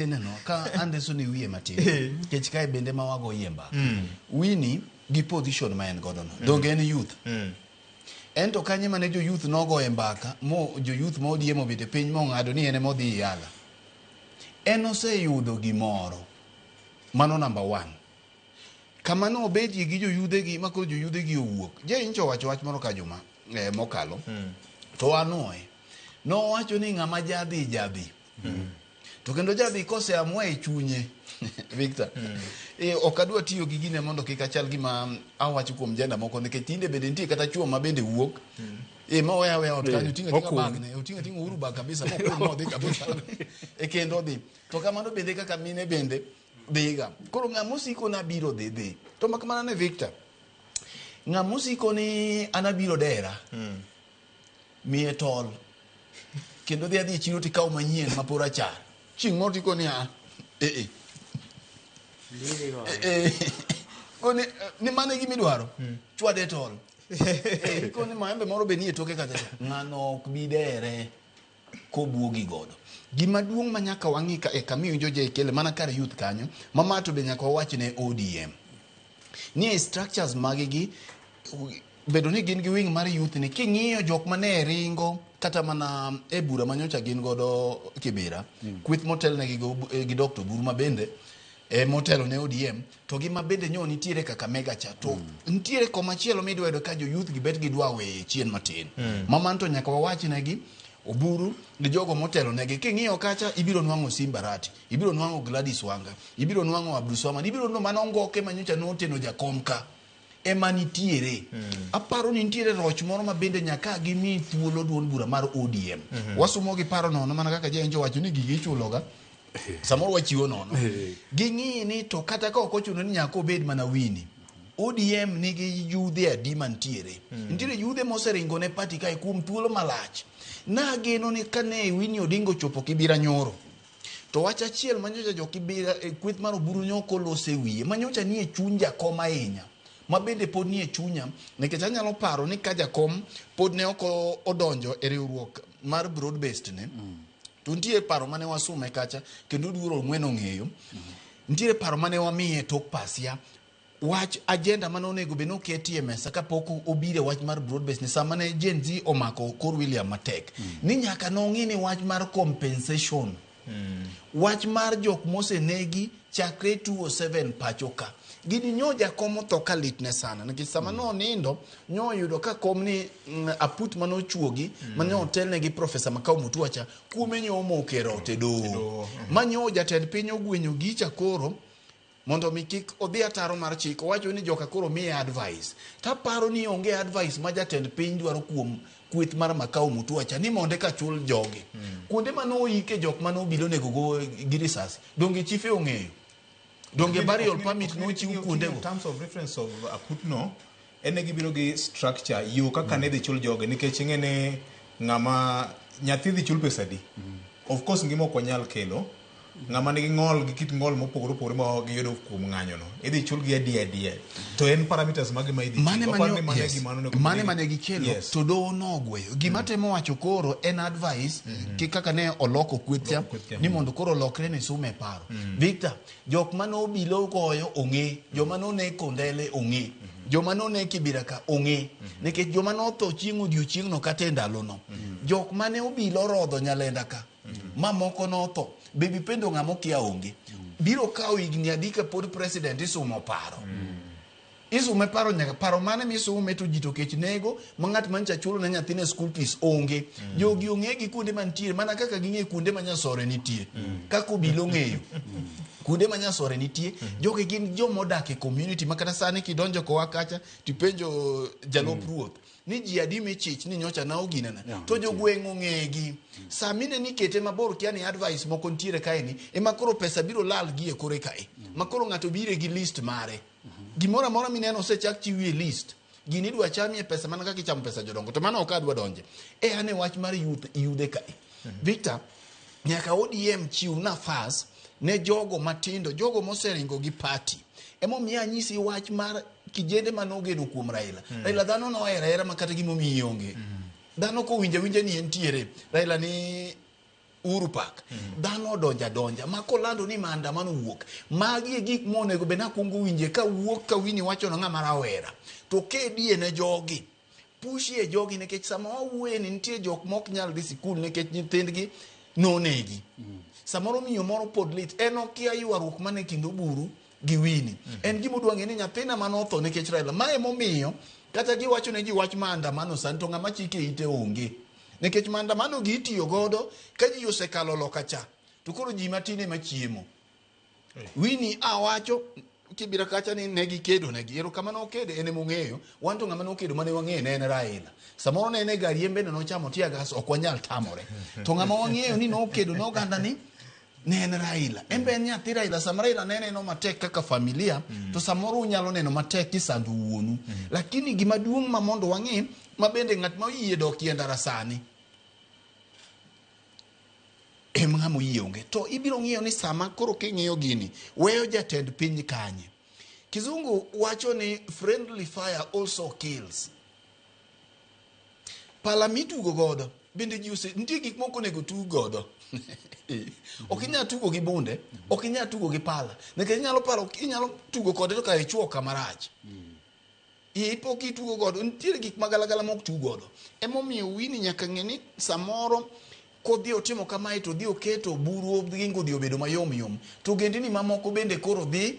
Ineno ka andiso ni wiye matin Eh. kech kae bende ma wago yie mbaka wini gi position ma en godo no donge en youth Mm. en to kanye mane jo youth nogoye mbaka mo jo youth ma odie mobete piny mong'ado ni en ema odhi yala en oseyudo gimoro mano number one kama ne obedie gi joyudhegi ma koro joyudhegi owuok jeincho owacho wach moro ka juma eh, mokalo to anoe nowacho ni ng'ama jadhi jadhi to kendo jadhi kose amwa e chunye victor e, ok adwa tiyo gi gine mondo kik achal gima awacho kuom jenda moko nikech tinde bende nitie kata chuo ma bende wuok e ma oya oya ot kanyo tinga tinga Okun. bagne otinga tinga uru bag kabisa mokun modhi kabisa e kendo odhi to kamano bende kaka mine bende dhiga koro ng'a mosiko nabiro dhi dhi to mak mana ne victor ng'a mosiko ni anabiro dera miye tol kendo dhi adhi e chiro tikaw manyien ma pora cha chieng' moro tiko ni a eh, eh. Eh, koni eh, ni mano e gima idwaro hmm. chwade e tol eh, koni maembe moro be nie toke kacha ng'ano ok bi dere kobwogi godo. Gima duong' ma nyaka wang'i ka e kama iwinjo JKL mana kar youth kanyo, ma ma to be nyaka wawach ne ODM. Ni e structures magi gi bedo ni gin gi wing mar youth ni king'iyo jok ma ne ringo kata mana e bura ma nyocha gin godo Kibira, kweth motelnegi go- eh, gi Dr. Guruma bende eh, motelo ne ODM to gi ma bende nyo nitiere Kakamega cha to mm. nitiere koma chielo midwa yudo ka jo youth gi bet gi dwa weye chien matin mm. ma man to nyaka wawach ne gi oburu gi jogo motelo negi king'iyo kacha ibiro nwang'o simba rati ibiro nwang'o Gladys Wanga ibiro nwang'o Abdulswamad ibiro no mano ngoke manyocha noteno jakom ka ema nitiere aparo ni nitiere roch moro ma bende nyaka gimi thuolo duond bura mar odm wasumo gi paro nono mana kaka jaenjo wacho ni gigi ichuloga samoro wachiwo nono ging'i ni to kata ka ok ochuno ni nyaka obed mana wini odm nigi yudhe adi mantiere nitiere yudhe moseringo ne pati kae kuom thuolo malach nageno ni kane wini odingo chopo kibira nyoro To wach achiel manyocha jokibira e kweth mar oburu nyoko lose wiye manyocha nie chuny jakom ahinya ma bende pod nie chunya nikech anyalo paro ni ka jakom pod ne ok odonjo e riwruok mar broad based ne mm. to nitie paro mane wasume kacha kendo duoro ng'wen ong'eyo mm. nitiere paro mane wamiye tok pasia Wach agenda mane onego bed ni oketie mesa kapok obire wach mar broad base ni sama ne Gen Z omako Kor William matek ni nyaka nong'i ni wach mar compensation wach mar jok mosenegi chakre 207 pacho ka gini nyo jakom otho ka litne sana nikech sama nonindo nyo oyudo ka kom ni mm, aput mane ochuogi mane otelne gi profesa Makau Mutua cha kuome nyo omokero ote doho ma nyo jatend piny ogwenyo gicha koro Mondo mi kik odhi ataro mar chik, owacho ni joka koro miye advice. To aparo ni onge advice ma jatend piny dwaro kuom kweth mar Makau Mutuacha ni mondo eka chul jogi. Mm. Kuonde mane oike jok mane obilo nego go gi risasi, donge chife ong'eyo? Donge burial permit nochiw kuondego? In terms of reference of akutno, en ne gibiro gi structure yo kaka ne dhi chul joge nikech ing'e ni ng'ama nyathi dhi chul pesa di of course ngima ok wanyal kelo ng'ama nigi ng'ol gi kit ng'ol mopogore opogore ma giyudo kuom ng'anyono idhi chul gi adiya adiya to en parameters mage ma idhi chul? mane Waparo ni mane- mane yes. gima onego bed mane ni- mane gikelo Yes. to doho nogweyo gima temo wacho koro en advice ki kaka ne oloko kwethcha Oloko kwethcha, ni mondo koro olokre ni sum e paro victor Jok mane obila ogoyo ong'e, joma none Kondele ong'e, joma none Kibira ka ong'e, nikech joma notho chieng' odiochieng'no kata e ndalono, jok mane obila orodho Nyalenda ka, ma moko notho, be dipendo ng'ama okia onge. Biro kawo higni adi kapod President isumo paro? Isume paro nyaka paro mane misume to ji to kech nego ma ng'at ma ncha chulo ne nyathine school fees onge. Mm. Jogi ong'e gi kuonde mantiere mana kaka ging'e kuonde ma nyasore nitie. Mm. Kaka obilo ng'eyo. Mm. Kuonde ma nyasore nitie. Mm. Jogi gin joma odak e community ma kata sani kidonjo kowa kacha tipenjo jalup mm. ruoth. ni ji adi michich ni nyocha na oginana yeah, to jogweng' ong'egi mm. saa mine ni kete mabor kia ni advice moko nitiere kae ni ema koro pesa biro lal gi e kore kae mm. ma koro ng'ato bire gi list mare mm -hmm. gimoro amora mineno osechak chiwie list gini idwa chamie pesa mana kaka ichamo pesa jodongo to mano ok adwa donje e ane wach mar yude kae mm -hmm. victor nyaka odm chiw nafas ne jogo matindo jogo moseringo gi party emomiyo anyisi wach mar kijende ma nogeno kuom Raila. Mm. Raila dhano nohera hera ma kata gimo mi onge. Mm. Dhano ko winja winja ni entiere. Raila ni Uru Park. Mm. Dhano donja donja ma kolando ni maandamano wuok. Magi e gik monego be nakwongo winje ka wuok ka wini wacho na ng'ama rawera. To kedie ne jogi. push e jogi nikech sama wawuoye ni nitie jok mok nyal dhi sikul nikech nyithindgi nonegi mm. samoro miyo moro pod lit en okia ywaruok man e kind oburu gi wini mm. en gima udwa ng'e ni nyathina mane otho nikech raila ma emomiyo kata giwacho ne ji wach maandamano sani to ng'ama chike ite onge nikech maandamano gi itiyo godo ka ji osekalo loka cha to koro ji matin ema chiemo Winnie awacho kibira kacha ni ne gikedo negi ero kama nokedo en emong'eyo wan to ng'ama nokedo mane wang'eyo ne en Raila samoro ne en e gari en bende nochamo tia gas ok wanyal tamore to ng'ama wang'eyo ni nokedo ne oganda ni ne en Raila en be en nyathi Raila sama Raila ne neno matek kaka familia to samoro unyalo neno matek kisando wuonu lakini gima duong' ma mondo wang'e ma bende ng'at ma oyie dok yie ndara sani em ng'ama oyie onge to ibiro ng'iyo ni sama koro king'iyo gini weyo jatend piny kanye kizungu wacho ni friendly fire also kills pala mitugo godo bende ji ose nitie gik moko onego tug godo ok inyal tugo gi bunde ok inyal tugo gi pala nikech inyalo paro inyalo tugo kode to ka ichuo kamarach mm. Ii pok itugo godo. Nitiere gik ma galagala mok tu godo. Emomiyo wini nyaka ng'e ni samoro kodhi otimo kamae to dhi oketo buru gi ngodhi obedo mayom yom. To gendini mamoko bende koro dhi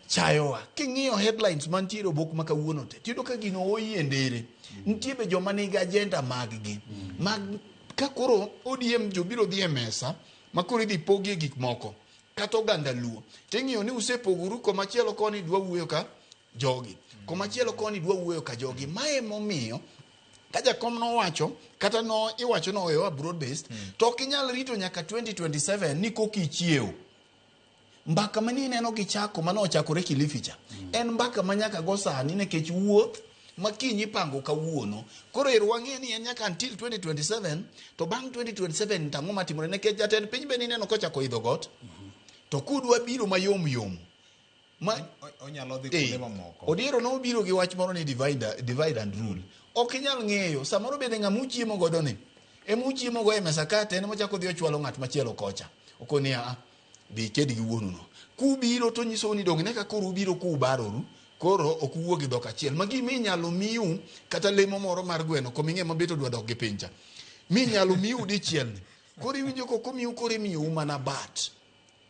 chayowa. King'iyo headlines mantiere obok ma kawuono te, tiyudo ka gino oyi e ndere. Nitie be joma nigi agenda maggi. Mag ka koro ODM jobiro dhi e mesa ma koro idhi pogie gik moko kata oganda luo. Ting'iyo ni usepogoru komachielo koni dwa wuoyo ka jogi komachielo koni dwa wuoyo ka jogi ma emomiyo ka jakom nowacho kata no iwacho no oyowa broad based mm. to ok inyal rito nyaka 2027 ni koka ichiewo mbaka ma nineno gi chako mane ochakore kilifi cha mm. en mbaka ma nyaka go sani nikech wuoth ma kiny ipango kawuono koro ero wang'e ni en nyaka until 2027 to bang' 2027 tang'o matimore nikech jatend piny be nineno kochako idho got mm -hmm. to kudwa biro mayom yom Ma- O- o- onyalo dhi Eh, kuonde mamoko Odiero nobiro gi wach moro ni divide, divide and rule. Ok inyal ng'eyo, samoro bende ng'ama uchiemo godo ni, ema uchiemo go e mesa kate, en mochako dhi ochwalo ng'at machielo kocha. Oko ni a, dhi iked gi wuonu no. Kubiro to nyisou ni donge ne ka koro ubiro kubaroru, koro ok uwuo gi dhok achiel. Ma gima inyalo miu kata lemo moro mar gweno, koming'e mabet odwa dok gi pincha. Mi inyalo miu dichiel ni. Koro iwinjo koko miu koro imiyo u mana bat.